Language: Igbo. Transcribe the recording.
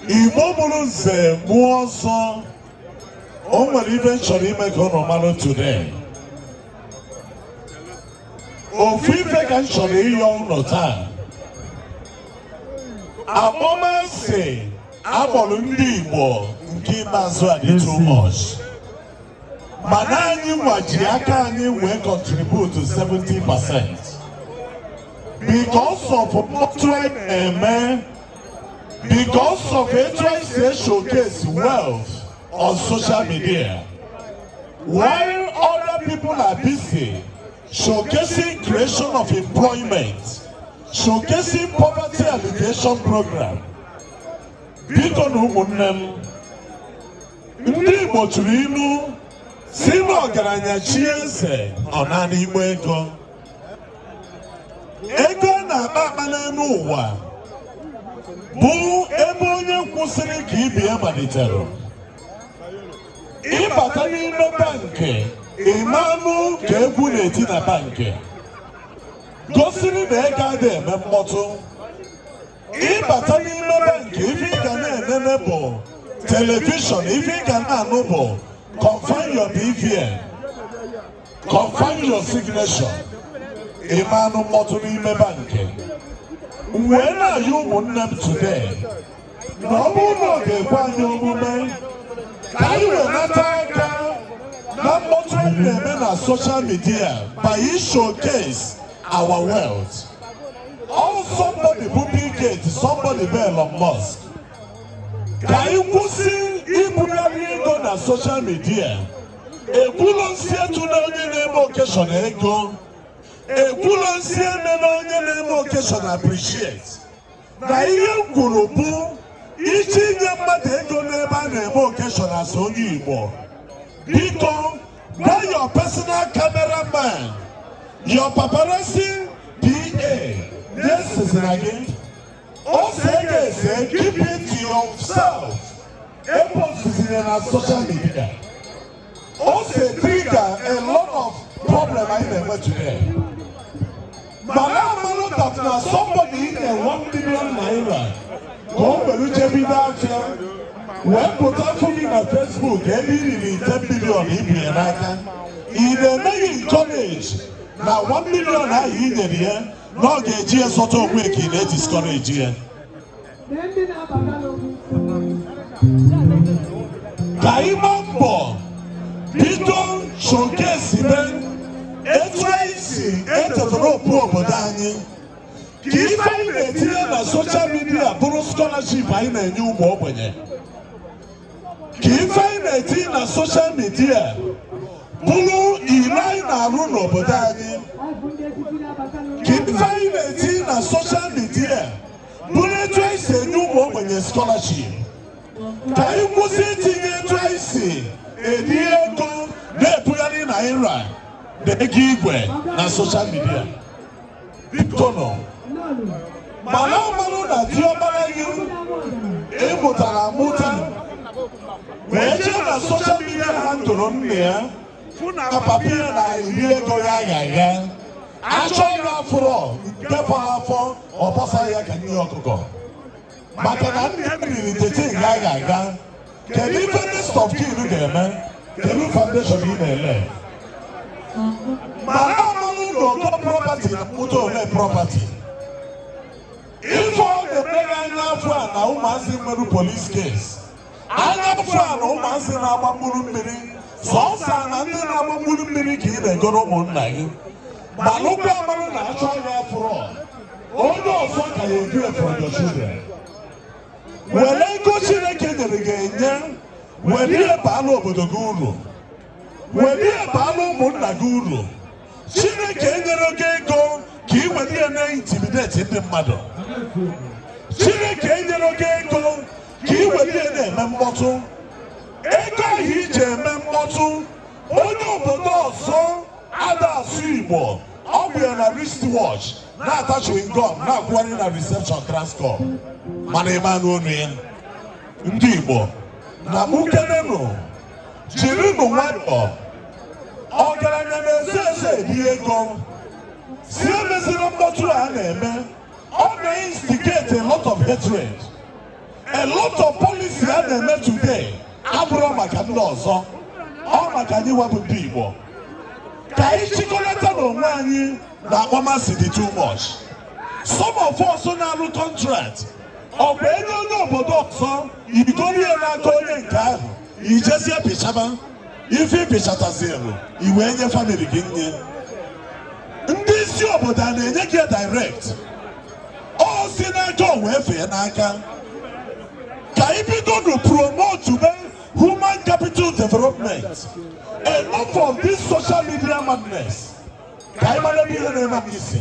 Igbo mụrụ nze mụọ ọzọ o nwere ife m chọrọ ime ka ụnụ mara today ofu ife ka m chọrọ ịyọ ụnụ taa akpọmasị a kpọrọ ndị Igbo nke ikpeazụ a dị too much mana anyị nwa ji aka anyị wee contribute 70 percent because of mkpọtụ anyị na-eme because of etu anyị si e showcase wealth on social media while other people are busy showcasing creation of employment showcasing poverty alleviation program biko nụ ụmụnne m ndị Igbo tụrụ ilu sị na ọgaranya chie eze ọ naanị igbe ego ego a na-akpa akpa n'elu ụwa bụ ebe onye kwụsịrị ka ibe ya malitere ị bata n'ime bankị ị ma anụ ka egwu na-eti na bankị gosiri na ego adị eme mkpọtụ ị bata n'ime bankị ife ị ga na-enene bụ telivishọn ife ị ga na-anụ bụ confirm your BVN confirm your signature ị ma anụ mkpọtụ n'ime bankị wee na-ayọ ụmụnne m today na ọ bụrụ na ọ ga-ekwe anyị omume ka anyị wenata aka na mkpọtụ anyị na-eme na social media by showcase our wealth all somebody bụ Bill Gates somebody bụ Elon Musk ka anyị kwụsị ibugharị ego na social media ekwulọ m sị etuna onye na-eme occasion ego ekwulọ m sị emena onye na-eme occasion appreciate na ihe m kwuru bụ ị je inye mmadụ ego n'ebe a na-eme occasion as onye Igbo biko gwa your personal cameraman your paparazzi PA ya esezina gị o see gị ese keep it to yourself Epostizina na social media. O so etrigger a lot of problem anyị na-enwe today. Mana amalọ that na somebody i nyere one million naira ka o were je bido afịa wee pụta fụ gị na Facebook ebe i riri ten million i bu ya n'aka. Ị na-emeghị encourage na one million ahụ i nyere ya na ọ ga-eji ya zọta onwe ka ị na-ediscourage ya. ka anyị gbaa mbọ bido showcase be etu anyị si etetara okpu obodo anyị ka ife anyị na-etinye na soshal midia bụrụ skọlaship anyị na-enye ụmụ ogbenye ka ife anyị na-etinye na soshal midia bụrụ ife anyị na-arụ n'obodo anyị ka ife anyị na-etinye na soshal midia bụrụ etu anyị si enye ụmụ ogbenye skọlaship ka anyị kwụsị itinye etu anyị si eri ego na-ebugharị naira na ego igwe na soshal midia biko nọ mana ọmanụ na diọkpara gị ị mụtara amụta wee jee na soshal midia handle nne ya papa ya na-eri ego yaghayagha achọ gị afụrọ n'ime ofu afọ ọ bọsa ya ka nri ọkụkọ maka na nna ya riri the thing yaghayagha kedu ife next of kin ga-eme kedu foundation ị na-elay mana ọmanụ na ogo property na-amụta ole property ife ọ na-emere anya afọ a na ụmụazị nwerụ police case anya mfụ ala ụmụazị na-agba mkpụrụ mmiri sọsọ na ndị na-agba mkpụrụ mmiri ka ị na-egoro ụmụnna gị malụkwa mara na achọ gị afụrọ onye ọzọ ka ya edu for your children were ego chineke nyere gị enye were ya baalụ obodo gị uru were ya baalụ ụmụnna gị uru Chineke enyerọ gị ego ka ị were ya na intimidate ndị mmadụ Chineke enyerọ gị ego ka ị were ya na-eme mkpọtụ ego ahụ i ji eme mkpọtụ onye obodo ọzọ ada asụ Igbo o bu ya na wristwatch na-ata chewing gum na-akwụgharị na reception Transcorp mana ị ma anụ onu ya ndị Igbo na mụ kenenụ jirinụ nwayọọ ọgaranya na-eze eze eri ego si emeziri mkpọtụ a na-eme ọ na-instigate a lot of hatred a lot of policy a na-eme today abụrọ maka ndị ọzọ ọ maka anyị wabụ ndị Igbo ka anyị chịkọlatanụ onwe anyị na akpọmasị dị too much some of us na-arụ contract ọ bụ e nye onye obodo ọzọ i goro ya n'aka onye nke ahụ i jezie pịchaba ife ị pịchatazielu i wee nye family gị nye ndị isi obodo a na-enye gị direct ọ si n'aka o wee fee n'aka ka anyị bidonu promote be human capital development enough of this social media madness ka anyị mara ebe ihe na-eme anyị si